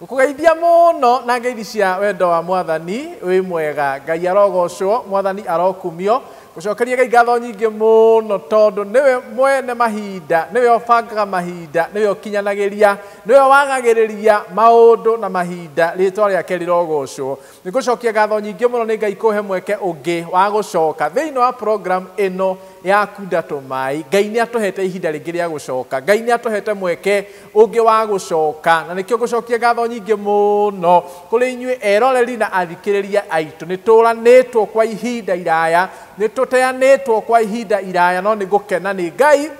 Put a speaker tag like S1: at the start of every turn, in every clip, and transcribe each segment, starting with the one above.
S1: Ngũkũgeithia mũno na ngeithi cia wendo wa mwathani, wĩ mwega, Ngai arogocwo, mwathani arokumio, ngũcokerie Ngai ngatho nyingĩ mũno tondũ nĩwe mwene mahinda, nĩwe ũbangaga mahinda, nĩwe ũkinyanagĩria, nĩwe wagagĩrĩria maũndũ na mahinda, rĩtwa rĩake rĩrogocwo. Nĩ ngũcokia ngatho nyingĩ mũno nĩ Ngai kũhe mweke ũngĩ wa gũcoka thĩinĩ wa program ĩno ya Kunda Tũmai, Ngai nĩ atũhete ihinda rĩngĩ rĩa gũcoka, Ngai nĩ atũhete mweke ũngĩ wa gũcoka, na nĩkĩo ngũcokia ngatho nyingĩ mũno kũrĩ inyuĩ eroreri na athikĩrĩria aitũ. Nĩ tũũranĩtwo kwa ihinda iraya, nĩ tũteanĩtwo kwa ihinda iraya, no nĩ ngũkena nĩ Ngai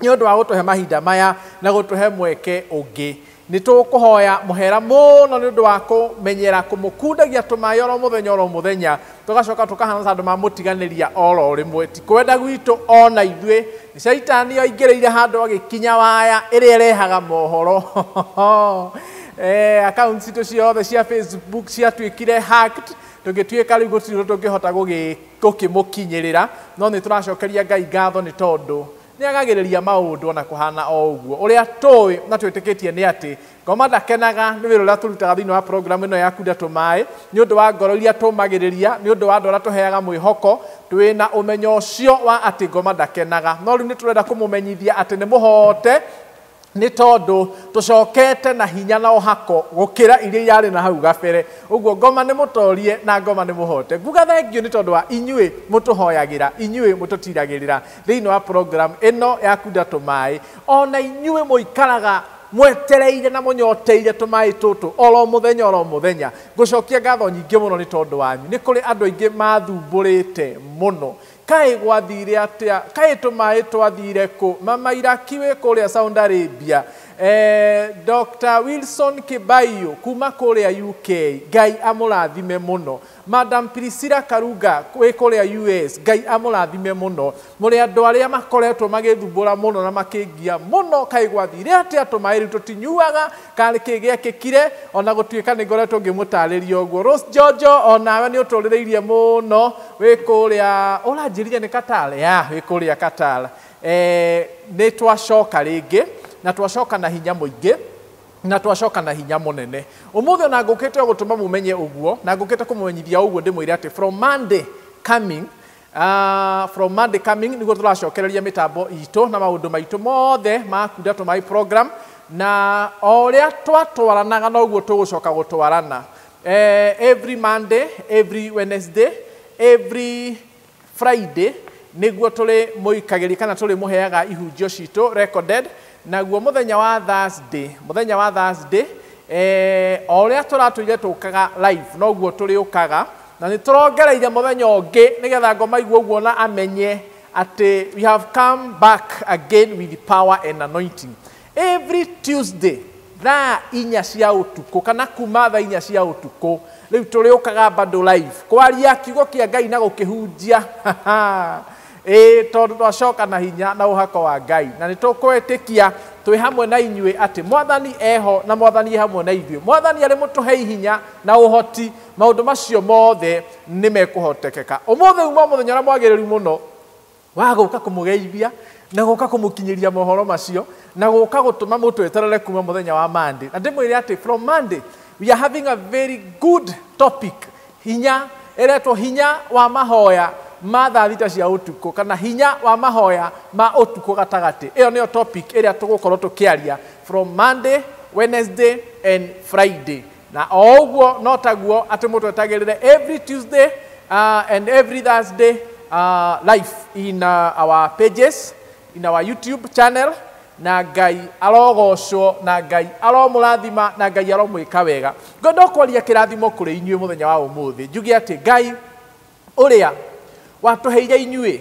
S1: nĩ ũndũ wa gũtũhe mahinda maya na gũtũhe mweke ũngĩ. Nĩ tũkũhoya mũhera mũno nĩ ũndũ wa kũmenyera kũmũkundagia tũmaĩ oro mũthenya oro mũthenya, Tũgacoka tũkahana ta andũ mamũtiganĩria o ro rĩmwe. Ti kwenda gwitũ o na ithuĩ. Shaitani oingĩrĩire handũ agĩkinya waya ĩrĩa ĩrehaga mohoro. Ee, accounts citũ ciothe cia Facebook ciatuĩkire hacked, tũgĩtuĩka rĩu gũtirĩ ũndũ tũngĩhota gũgĩ- gũkĩmũkinyĩrĩra. No nĩ tũracokeria Ngai ngatho nĩ tondũ nĩ agagĩrĩria maũndũ o na kũhana o ũguo. Ũrĩa tũĩ na twĩtĩkĩtie nĩ atĩ Ngoma ndakenaga nĩ wĩra ũrĩa tũrutaga thĩinĩ wa programu ĩno ya Kunda Tũmaĩ nĩ ũndũ wa ngoro iria tũmagĩrĩria nĩ ũndũ wa andũ arĩa tũheaga mwĩhoko twĩna ũmenyo ũcio wa atĩ ngoma ndakenaga no rĩu nĩ tũrenda kũmũmenyithia atĩ nĩ mũhote nĩ tondũ tũcokete na hinya na ũhako gũkĩra iria irarĩ na hau gabere ũguo ngoma nĩ mũtorie na ngoma nĩ mũhote nguga thengio nĩ tondũ wa inyuĩ mũtũhoyagĩra inyuĩ mũtũtiragĩrĩra thĩinĩ wa program ĩno ya kunda tũmaĩ ona inyuĩ mũikaraga Mwetereire na mũnyoteire tũmaĩ tũtũ o ro mũthenya o ro mũthenya. Ngũcokia ngatho nyingĩ mũno nĩ tondũ wanyu. Nĩ kũrĩ andũ aingĩ maathumbũrĩte mũno. Kaĩ gwathiire atĩa? Kaĩ tũmaĩ twathiire kũ? Mama Iraki wĩ kũrĩa Saudi Arabia. Ee, Doctor Wilson Kĩbaiyũ kuuma kũrĩa UK. Ngai amũrathime mũno. Madam Priscilla Karunga wĩ kũrĩa US, Ngai amũrathime mũno. Mũrĩ andũ arĩa makoretwo magĩthumbũra mũno na makĩngia mũno, kaĩ gwathire atĩa, tũmaĩ rĩu tũtinyuaga, kana nĩ kĩĩ gĩekĩkire, o na gũtuĩka nĩ ngoretwo ngĩmũtaarĩria ũguo. Rose Njonjo, o nawe nĩ ũtũrĩrĩirie mũno, wĩ kũrĩa, ũranjĩrire nĩ Qatar? Yeah, wĩ kũrĩa Qatar. Nĩ twacoka rĩngĩ, na twacoka na hinya mũingĩ. Na twacoka na hinya mũnene. Ũmũthĩ ona ngũkĩte o gũtũma mũmenye ũguo, na ngũkĩte kũmũmenyithia o ũguo ndĩmwĩre atĩ from Monday coming, aah, from Monday coming nĩguo tũracokereria mĩtambo itũ na maũndũ maitũ mothe ma Kunda to My program, na o ũrĩa twatwaranaga noguo tũgũcoka gũtwarana. Every Monday, every Wednesday, every Friday nĩguo tũrĩmũikagĩria kana tũrĩmũheaga ihunjio citũ recorded, naguo mũthenya wa Thursday, mũthenya wa Thursday, eh, o ũrĩa tũratũire tũkaga live noguo tũrĩũkaga na nĩ tũrongereire mũthenya ũngĩ nĩgetha ngoma igua ũguo na amenye atĩ we have come back again with power and anointing Every Tuesday thaa inya cia ũtukũ kana kuma thaa inya cia ũtukũ rĩu tũrĩũkaga bado live kwaria kiugo kĩa Ngai na gũkĩhunjia ĩĩ tondũ twacoka na hinya na ũhako wa Ngai na nĩtũkwĩtĩkia twĩ hamwe na inyuĩ atĩ mwathani eho na mwathani e hamwe na ithuĩ mwathani arĩ mũtũhei hinya na ũhoti maũndũ macio mothe nĩ mekũhotekeka ũmũthĩ uma mũthenya ũrĩa mwagĩrĩru mũno wa gũka kũmũgeithia na gũka kũmũkinyĩria mohoro macio na gũka gũtũma mũtweterere kuma mũthenya wa Monday na ndĩmwĩre atĩ from Monday we are having a very good topic hinya eretwo hinya wa mahoya ma thaa thita cia ũtukũ kana hinya wa mahoya ma ũtukũ gatagatĩ ĩyo nĩyo topic ĩrĩa tũgũkorwo tũkĩaria from Monday Wednesday and Friday Na o ũguo no taguo atĩ mũtwetagĩrĩre every Tuesday uh, and every Thursday uh, live in uh, our pages in our YouTube channel na ngai arogocwo na ngai aromũrathima na ngai aromwĩka wega ngwenda kwaria kĩrathimo kũrĩ inyuĩ mũthenya wa ũmũthĩ njuge atĩ ngai Ũrĩa watũheire inyuĩ,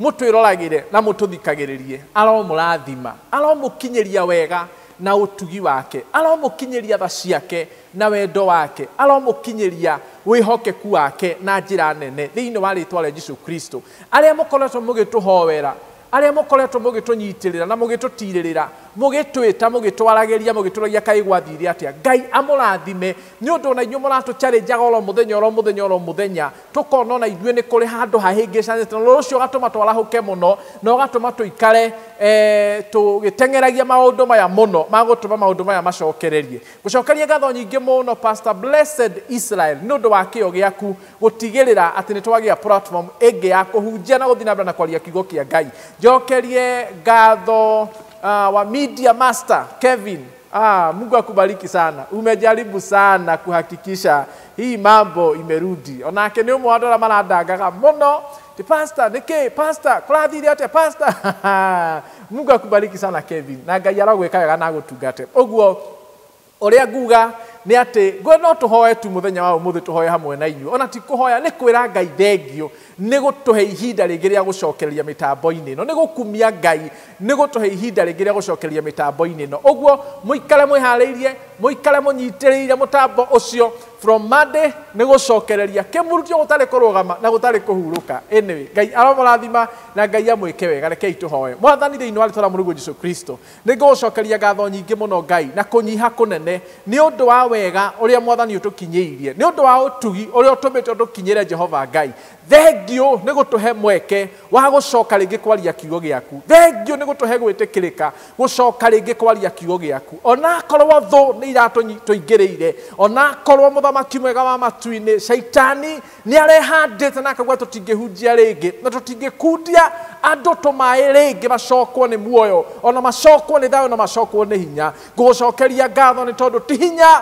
S1: mũtwĩroragĩre na mũtũthikagĩrĩrie, aromũrathima, aromũkinyĩria wega na ũtugi wake, aromũkinyĩria tha ciake na wendo wake, aromũkinyĩria wĩhokeku wake na njĩra nene thĩinĩ wa rĩĩtwa rĩa Jesu Kristo. Arĩa mũkoretwo mũgĩtũhoera arĩa mũkoretwo mũgĩtũnyitĩrĩra na mũgĩtũtiirĩrĩra, mũgĩtwĩta, mũgĩtwaragĩria, mũgĩtũũragia kaĩ gwathiire atĩa. Ngai amũrathime, nĩ ũndũ o na inyuĩ mũratũ challenge aga o ro mũthenya, o ro mũthenya, o ro mũthenya, tũkona o na ithuĩ nĩ kũrĩ handũ hahĩngĩcanĩte, na ũndũ ũcio ũgatũma twarahũke mũno, na ũgatũma tũikare, ee, tũgĩteng'eragia maũndũ maya mũno, ma gũtũma maũndũ maya macokererie. Gũcokeria ngatho nyingĩ mũno Pastor Blessed Israel nĩ ũndũ wa kĩyo gĩaku gũtigĩrĩra atĩ nĩ twagĩa platform ĩngĩ ya kũhunjia na gũthiĩ na mbere na kwaria kiugo kĩa Ngai. Njokerie ngatho ah, wa Media Master Kevin. Ah, Mungu akubariki sana. Umejaribu sana kuhakikisha hii mambo imerudi. Onake nĩ ũmwe wa andũ arĩa marandangaga mũno Te pasta neke pasta kurathire atia pasta Mungu akubariki sana Kevin na Ngai arogweka wega na agutungate uguo uria nguga ni ati ngwe no tuhoe tu muthenya wa umuthi tuhoe hamwe na inyu ona ti kuhoya ni kwira Ngai thengio ni gutuhe ihinda ringi ria gucokereria mitambo-ini ino ni gukumia Ngai Nĩ gũtũhe ihinda rĩngĩ rĩa gũcokereria mĩtambo-inĩ ĩno. Ũguo mũikare mwĩharĩirie, mũikare mũnyitĩrĩire mũtambo ũcio from Monday nĩ gũcokereria. Kĩmurutio gũtarĩ kũrũgama na gũtarĩ kũhurũka. Anyway, Ngai aromũrathima na Ngai amwĩke wega. Rekei tũhoe. Mwathani thĩinĩ wa rĩtwa rĩa Mũrũ witũ Jesu Kristo, nĩ ngũgũcokeria ngatho nyingĩ mũno Ngai na kũnyiha kũnene nĩ ũndũ wa wega ũrĩa Mwathani ũtũkinyĩirie, nĩ ũndũ wa ũtugi ũrĩa ũtũmĩte ũtũkinyĩre Jehova Ngai. Thengiũ nĩ gũtũhe mweke wa gũcoka rĩngĩ kwaria kiugo gĩaku. Thengiũ nĩ gũtũhe gwĩtĩkĩrĩka gũcoka rĩngĩ kwaria kiugo gĩaku. Onakorwo thũ nĩ iratũingĩrĩire, onakorwo mũthamaki mwega wa matu-inĩ, caitani, nĩ arehandĩte na akauga tũtingĩhunjia rĩngĩ, na tũtingĩkundia andũ tũmaĩ rĩngĩ macokwo nĩ muoyo, ona macokwo nĩ thayũ, na macokwo nĩ hinya. Ngũgũcokeria ngatho nĩ tondũ ti hinya,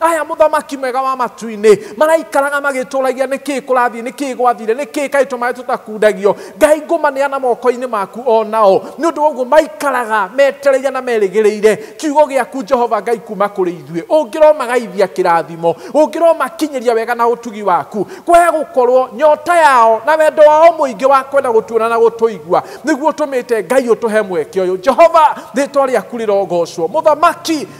S1: aya mũthamaki mwega wa matu-inĩ maraikaraga magĩtũragia nĩ kĩĩ kũrathiĩ nĩ kĩĩ gwathire nĩ kĩĩ kaĩ tũmaĩ tũtakundagio ngai ngũmaneana moko-inĩ maku o nao nĩ ũndũ woguo maikaraga metereire na merĩgĩrĩire kiugo gĩaku jehova ngai kuma kũrĩ ithuĩ ũngĩromagaithia kĩrathimo ũngĩromakinyĩria wega na ũtugi waku kwaya gũkorwo nyota yao na wendo wao mũingĩ wa kwenda gũtuona na gũtũigua nĩguo ũtũmĩte ngai ũtũhe mweke ũyũ jehova rĩtwa rĩaku rĩrogocwo mũthamaki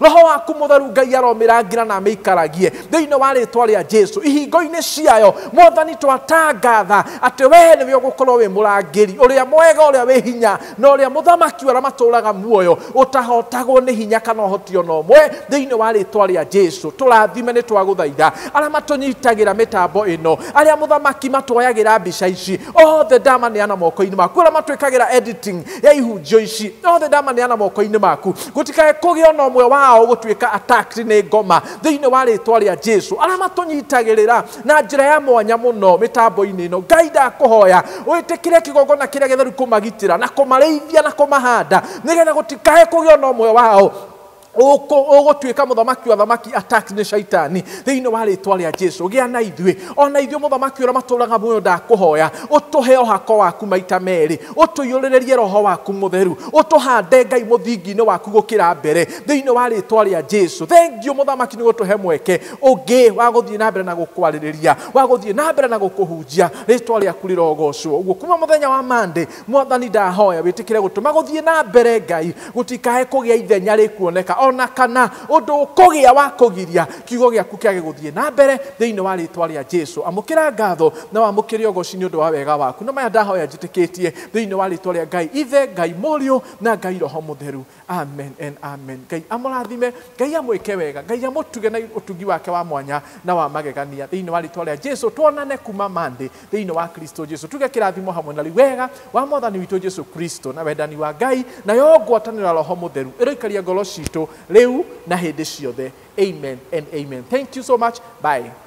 S1: roho waku mutheru ngai aromirangira na amikaragie thiini wa ritwa ria jesu ihingo-ini ciayo mwathani twatangatha ati wee niwe ugukorwo wi murangiri uria mwega uria wi hinya na uria muthamaki uria maturaga muoyo utahotagwo ni hinya kana uhoti ona umwe thiini wa ritwa ria jesu turathime ni twaguthaitha aria matunyitagira mitambo ino aria muthamaki matuoyagira mbica ici othe ndamaneana moko-ini maku aria matwikagira editing ya ihunjio ici othe ndamaneana moko-inĩ maku gũtikae kũgĩa ona ũmwe wao gũtuĩka attacked nĩ ngoma thĩinĩ wa rĩtwa rĩa jesu arĩa matũnyitagĩrĩra na njĩra ya mwanya mũno mĩtambo-inĩ ĩno ngai ndakũhoya wĩtĩkĩre kĩgongona kĩrĩa gĩtheru kũmagitĩra na kũmarĩithia na kũmahanda nĩgetha gũtikae kũgĩa ona ũmwe wao ũkũ- ũgũtuĩka mũthamaki wa thamaki attacked nĩ shaitani thĩinĩ wa rĩtwa rĩa jesu gĩa na ithuĩ ona ithuĩ mũthamaki ũrĩa matũraga muoyo ndakũhoya ũtũhe ũhako waku maita merĩ ũtũiyũrĩrĩrie roho waku mũtheru ũtũhande ngai mũthingi-inĩ waku gũkĩra mbere thĩinĩ wa rĩtwa rĩa jesu thengiũ mũthamaki nĩ gũtũhe mweke ũngĩ wa gũthiĩ na mbere na gũkwarĩrĩria wa gũthiĩ na mbere na gũkũhunjia rĩtwa rĩaku rĩrogocwo ũguo kuma mũthenya wa mande Mwathani ndahoya wĩtĩkĩre gũtũma gũthiĩ na mbere Ngai gũtikae kũgĩa ithenya rĩkuoneka o na kana ũndũ ũkũgĩa wa kũgiria kiugo gĩaku kĩage gũthiĩ na mbere thĩinĩ wa rĩtwa rĩa Jesu. Amũkĩra ngatho na wamũkĩre ũgoci nĩ ũndũ wa wega waku. Na maya ndahoya njĩtĩkĩtie thĩinĩ wa rĩtwa rĩa Ngai Ithe, Ngai Mũriũ na Ngai Roho Mũtheru. Amen and amen. Ngai amũrathime, Ngai amwĩke wega, Ngai amũtuge na ũtugi wake wa mwanya na wa magegania thĩinĩ wa rĩtwa rĩa Jesu. Tuonane kuma Monday thĩinĩ wa Kristo Jesu. Tuge kĩrathimo hamwe na rĩu wega wa mwathani witũ Jesu Kristo na wendani wa Ngai na yo ngwatanĩro ya roho mũtheru ĩroikaria ngoro citũ rĩu na hĩndĩ ciothe. Amen and amen. Thank you so much. Bye.